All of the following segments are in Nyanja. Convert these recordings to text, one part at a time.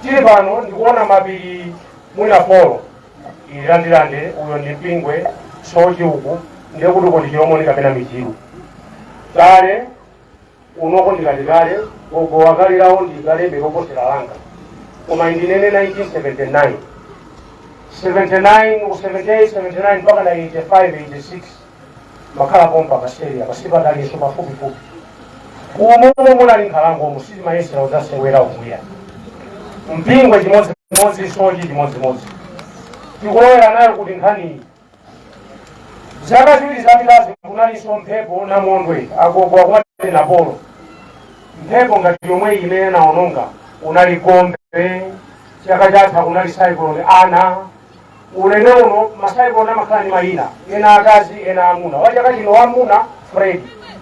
tili pano ndikuona mapiri mwina polo ili la ndirande uyo ndi mpingwe sochi uku ndiye kuti uko ndi chilomoni kapena michiru kale kunoko ndikati kale agogowa kale lawo ndi kalebe loposera langa koma ine ndinene 1979 79 ku 78 79 mpaka 85 86 makhala pompa pasiteria pa sipatalinso pafupifupi umomo munali nkhalango umu sitimayesera kudzasewera ukuya mpingwe chimodzimodzi sochi chimodzimodzi tikulowera nayo kuti nkhaniyi zaka ziwiri zapitazi kunalinso mphepo namondwe agogo akumati napolo mphepo ngati yomwe imene inaononga kunali gombe chaka chatha kunali cyclone ana ulendo uno ma cyclone amakhala ndi mayina ena akazi ena amuna wachaka chino wamuna fred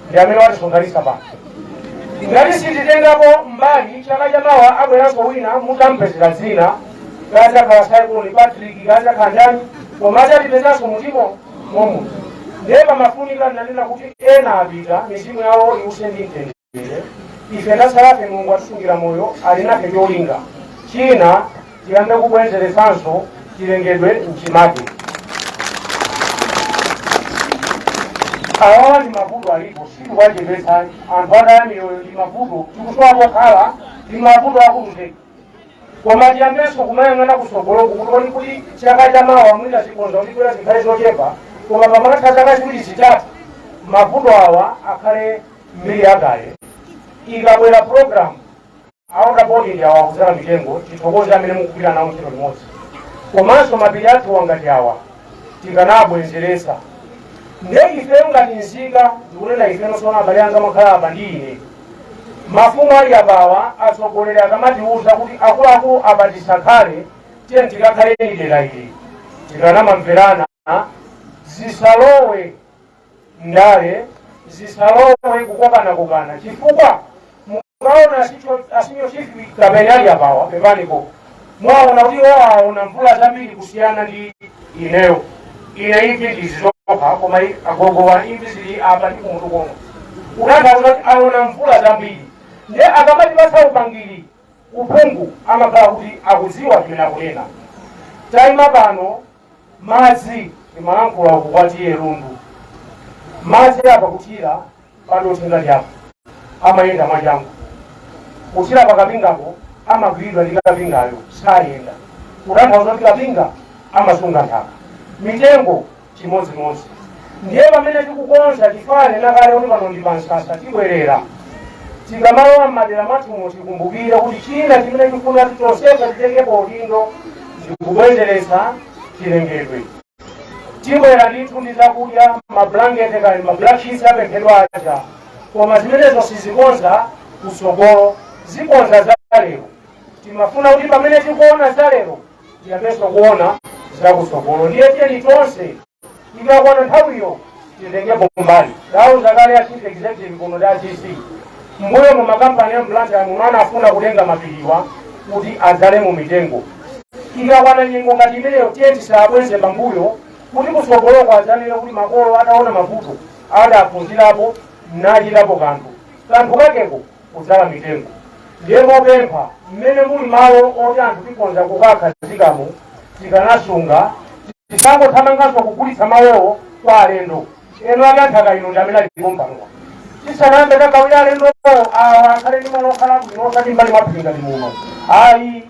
ndi amene watisonkhanitsa pano ngati sititengapo mbali chaka chamawa abweranso wina mutampezera dzina kaya azakhala cyclone patrick kaya azakhala ndani koma azatipezanso mutimo momo ndiye pamafunika nanena kuti ena apita mizimu yawo iwuse ndi mtendere ife tatsalafe mulungu atisungira moyo ali nafe cholinga china tiyambe kubwenzeresanso chilengedwe mchimake awawa ndi mavuto alipo sitikuwachepetsa anthu ataya miyoyo ndi mavuto tikusowa pokhala ndi mavuto akulu zedi koma tiyambenso kumayang'ana kusogoloku kuti tione kuti chaka chamawa mwina zikhonza kutigwera zikhale zochepa koma pamakatha zaka ziwiri zitatu mavuto awa akhale mbiri yakale ikabwera programu a water board ndi awa kuzala mitengo tithokoze amene mukugwira nawo ntchito limodzi komanso mapiri athuwa ngati awa tikanabwenzeretsa nde ifeyo ngati nzika ndikunena ifeno sona abale anga amakhala apa ndi ine Mafumu ali apawa atsogoleri akamatiuza kuti akuluakulu apa tisakhale tiyeni tikakhale m'dera ili tikanamamverana zisalowe ndale zisalowe kukokanakokana chifukwa mukaona a senior chief kapeni ali apawa pepaniko mwaona kuti iwo aona mvula zambiri kusiyana ndi ineyo ine imvi ndizi zokha koma i- agogowa imvi zili apa ndi kumutu komwe kutanthauza kuti aona mvula zambiri ndiye akamatipatsa upangiri uphungu amakhala kuti akudziwa zimene akunena taima pano madzi ndimalankhula uku kwa TA lundu madzi apa kuthira padothi ngati apo amayenda mwachangu kuthira pakapingapo amagwiridwa ndi kapingayo sayenda kutanthauza kuti kapinga amasunga nthaka mitengo chimodzimodzi ndiye pamene tikukonza chifukwa nanena kale kuti pano ndi pansasa tibwerera tikamalowa m'madera mwathumo tikumbukire kuti china chimene tifuna kuti tonsefe titengepo udindo ndikubwezeretsa chilengedwe tibwera ndithu ndi zakudya mablankete kaya ndi mablack sheets apemphedwa aja koma zimenezo sizikonza kusogolo zikonza za lero timafuna kuti pamene tikuona za lero tiyambenso kuona za kusogolo ndiye tiyeni tonse Ikakwana nthawiyo titengepo mbali. Ndauza kale a chief executive kuno ndi a DC. Mbuyomu makampani a m'Blantyre muno anafuna kutenga mapiriwa kuti adzalemo mitengo. Ikakwana nyengo ngati imeneyo tiye tisabweze pambuyo kuti kutsogoloko adzanene kuti makolo ataona mavuto adaphunzirapo nachitapo kanthu. Kanthu kakeko kudzala mitengo. Ndiye mopempha, m'mene muli malo oti anthu tikhonza kukakhazikamo, tikanasunga, tisangothamanganso kugulitsa malowo kwa alendo. Eni ake a nthaka ino ndi amene ali pompanopa. Tisanayambe kugawira alendowo, awa akhale ndi malo okhala abwino osati m'mbali mwa phiri ngati muno. Ayi.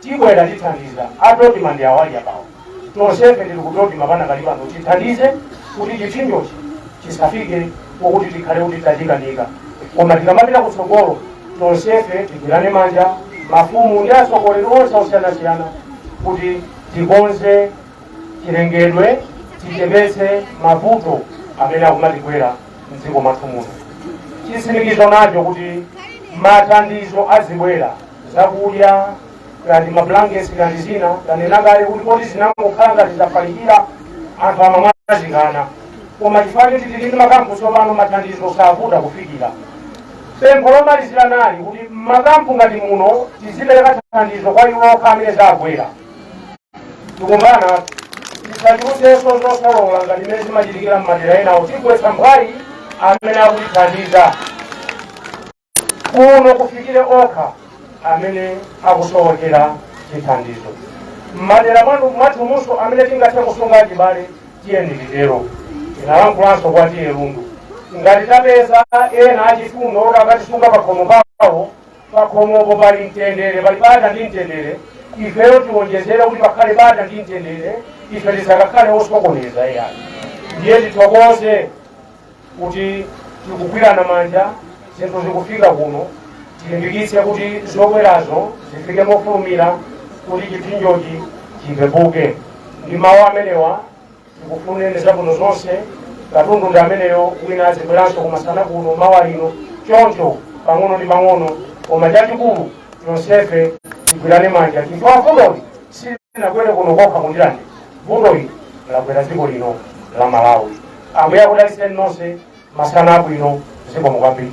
Tibwera tithandiza a Dodma ndi awa ali apawa. Tonsefe tili ku Dodma panakali pano tithandize kuti chipsinjochi chisafike pokuti tikhale kuti tachikanika. Koma tikamapita kutsogolo tonsefe tigwirane manja mafumu ndi atsogoleri onse osiyanasiyana kuti tikonze chilengedwe tichepetse mavuto amene akumatigwera m'dziko mwathu muno. Chitsimikizo nacho kuti mathandizo azibwera. zakudya kaya ndi mablankets kaya ndi zina tanena kale kuti poti zinangokhala ngati zafalikira anthu amamwazikana koma chifukwa choti tili ndi makampu tsopano mathandizo savuta kufikira pempho lomalizira nali kuti mmakampu ngati muno tizipereka thandizo kwa iwo okha amene zagwera tikumbana tisachulusenso zokolola ngati mmene zimachitikira mmadera enawo tigwetsa mphwayi amene akutithandiza kuno kufikire okha amene akusowekera chithandizo mmadera mwathumunso amene tingathe kusunga achibale tiyeni titero tinalankulanso kwa TA lundu ngati tapeza ena achifundo oti akatisunga pakhomo pawo pakhomopo pali mtendere pali bata ndi mtendere ifeyo tiwonjezere kuti pakhale bata ndi mtendere ife tisakakhale osokoneza iyayi ndiye tithokoze kuti tikugwirana manja zinthu zikufika kuno tilimbikitse kuti zobwerazo zifike mofulumira kuti chipsinjochi chipepuke ndi mawu amenewa tikufunireni zabwino zonse katundu ndi ameneyo wina azibweranso kumasana kuno mawa lino choncho pang'ono ndi pang'ono koma chachikulu tonsefe tigwirane manja chifukwa vutoli silinagwere kuno kokha ku Ndirande vutoli lagwera dziko lino la malawi Ambuye akudalitseni nonse masana abwino zikomo kwambiri.